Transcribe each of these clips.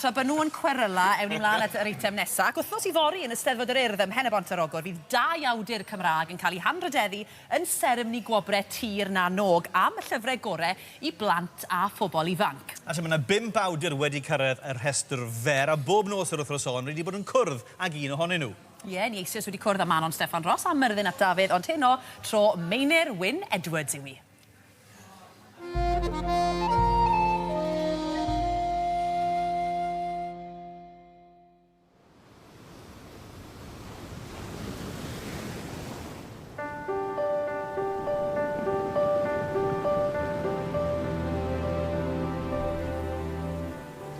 Tra bod nhw yn cweryla, ewn ni mlaen at yr eitem nesa, ac wythnos yfory yn y Steddfod yr Urdd ym Mhen-y-bont ar Ogwr fydd dau awdur Cymraeg yn cael eu hanrhydeddu yn seremni gwobrau Tir na n-Og am y llyfrau gore i blant a phobl ifanc. A tra mae yna bump awdur wedi cyrraedd y rhestr fer, a bob nos yr wythnos hon, rwy 'di bod yn cwrdd ag un ohonyn nhw. Ie, ni eisoes wedi cwrdd â Manon Steffan Ros a Myrddin ap Dafydd, ond heno, tro Meinir Wyn Edwards yw hi.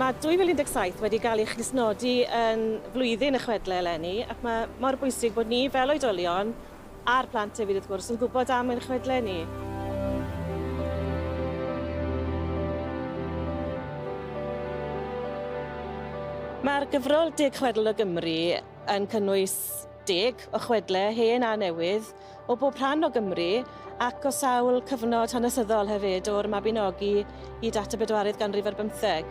Mae 2017 wedi cael ei chlustnodi yn Flwyddyn y Chwedlau eleni ac mae mor bwysig bod ni fel oedolion A'r plant hefyd wrth gwrs yn gwybod am ein chwedle ni. Mae'r gyfrol Deg Chwedl o Gymru yn cynnwys deg o chwedle hen a newydd o bob rhan o Gymru ac o sawl cyfnod hanesyddol hefyd, o'r Mabinogi hyd at y bedwaredd ganrif ar bymtheg.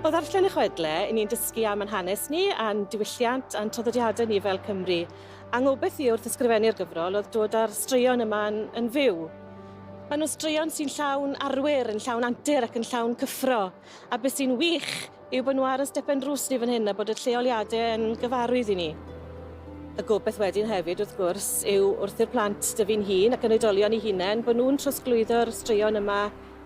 O ddarllen y chwedle, i ni'n dysgu am yn hanes ni, a'n diwylliant, a'n traddodiadau ni fel Cymru. Angobaith i wrth ysgrifennu'r gyfrol oedd dod â'r straeon yma yn, yn fyw. Maen nhw'n straeon sy'n llawn arwyr, yn llawn antur ac yn llawn cyffro. A beth sy'n wych yw bod nhw ar y stepen drws ni fan hyn a bod y lleoliadau yn gyfarwydd i ni. Y gobaith wedyn hefyd, wrth gwrs, yw wrth i'r plant dyfu'n hun ac yn oedolion i hunain, bod nhw'n trosglwyddo'r straeon yma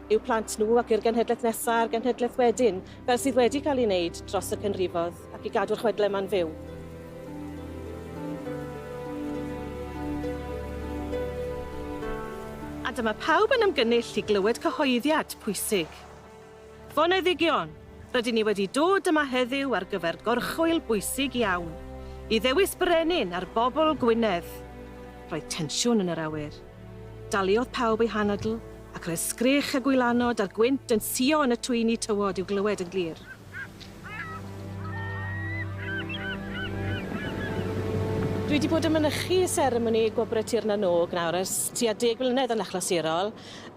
i'w plant nhw ac i'r genhedlaeth nesaf a'r genhedlaeth wedyn, fel sydd wedi cael ei wneud dros y canrifodd, ac i gadw'r chwedlau yma'n fyw. A dyma pawb yn ymgynnull i glywed cyhoeddiad pwysig. Foneddigion, rydyn ni wedi dod yma heddiw ar gyfer gorchwyl bwysig iawn, i ddewis brenin ar bobl Gwynedd. Roedd tensiwn yn yr awyr. Daliodd pawb eu hanadl, ac roedd sgreech a gwylanod a'r gwynt yn suo yn y twyni tywod i'w glywed yn glir. Dwi wedi bod yn mynychu seremoni Gwobrau Tir na nOg nawr ers tua deg mlynedd yn achlysurol,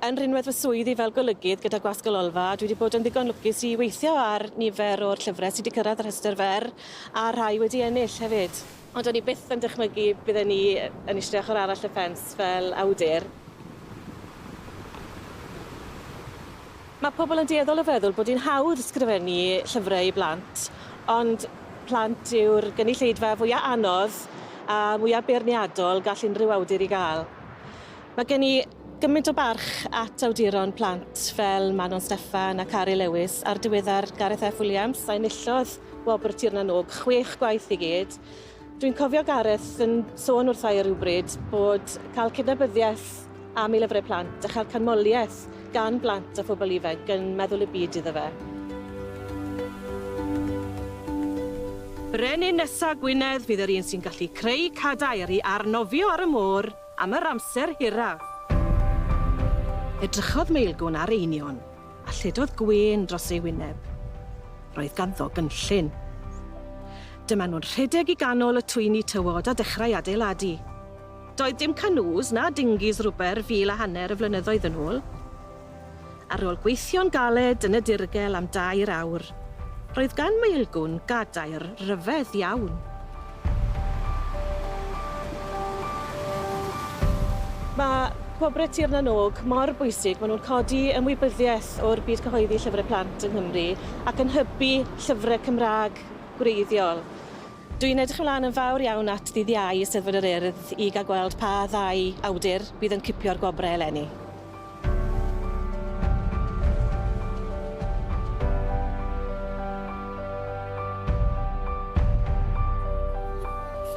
Yn rhinwedd fy swydd i fel golygydd gyda Gwasg y Lolfa, dwi wedi bod yn ddigon lwcus i weithio ar nifer o'r llyfrau sydd wedi cyrraedd y rhestr fer, a rhai wedi ennill hefyd. Ond o'n i byth yn dychmygu bydden i yn eistedd ochr arall y ffens fel awdur. Mae pobl yn dueddol o feddwl bod hi'n hawdd ysgrifennu llyfrau i blant, ond plant yw'r gynulleidfa fwya' anodd a mwya' beirniadol gall unrhyw awdur ei gael. Mae gen i gymaint o barch at awduron plant fel Manon Steffan a Cari Lewis a'r diweddar Gareth F Williams a enillodd wobr Tir na nÓg chwech gwaith i gyd. Dwi'n cofio Gareth yn sôn wrtha i rywbryd bod cael cydnabyddiaeth am ei lyfrau plant a chael canmoliaeth gan blant a phobl ifanc yn meddwl y byd iddo fe. Brenin nesa Gwynedd fydd yr un sy'n gallu creu cadair i arnofio ar y môr. am yr amser hiraf. Edrychodd Maelgwn ar Einion a lledodd gwên dros ei wyneb. Roedd ganddo gynllun. Dyma nhw'n rhedeg i ganol y twyni tywod a dechrau adeiladu. Doedd dim canŵs na dingis rubber fil a hanner o flynyddoedd yn ôl. Ar ôl gweithio'n galed yn y dirgel am dair awr, roedd gan Maelgwn gadair ryfedd iawn. Mae Gwobrau Tir na nÓg mor bwysig, maen nhw'n codi ymwybyddiaeth o'r byd cyhoeddi llyfrau plant yng Nghymru ac yn hybu llyfrau Cymraeg gwreiddiol. Dw i'n edrych ymlaen yn fawr iawn at ddydd Iau i Eisteddfod yr Urdd i gael gweld pa ddau awdur fydd yn cipio'r gwobrau eleni.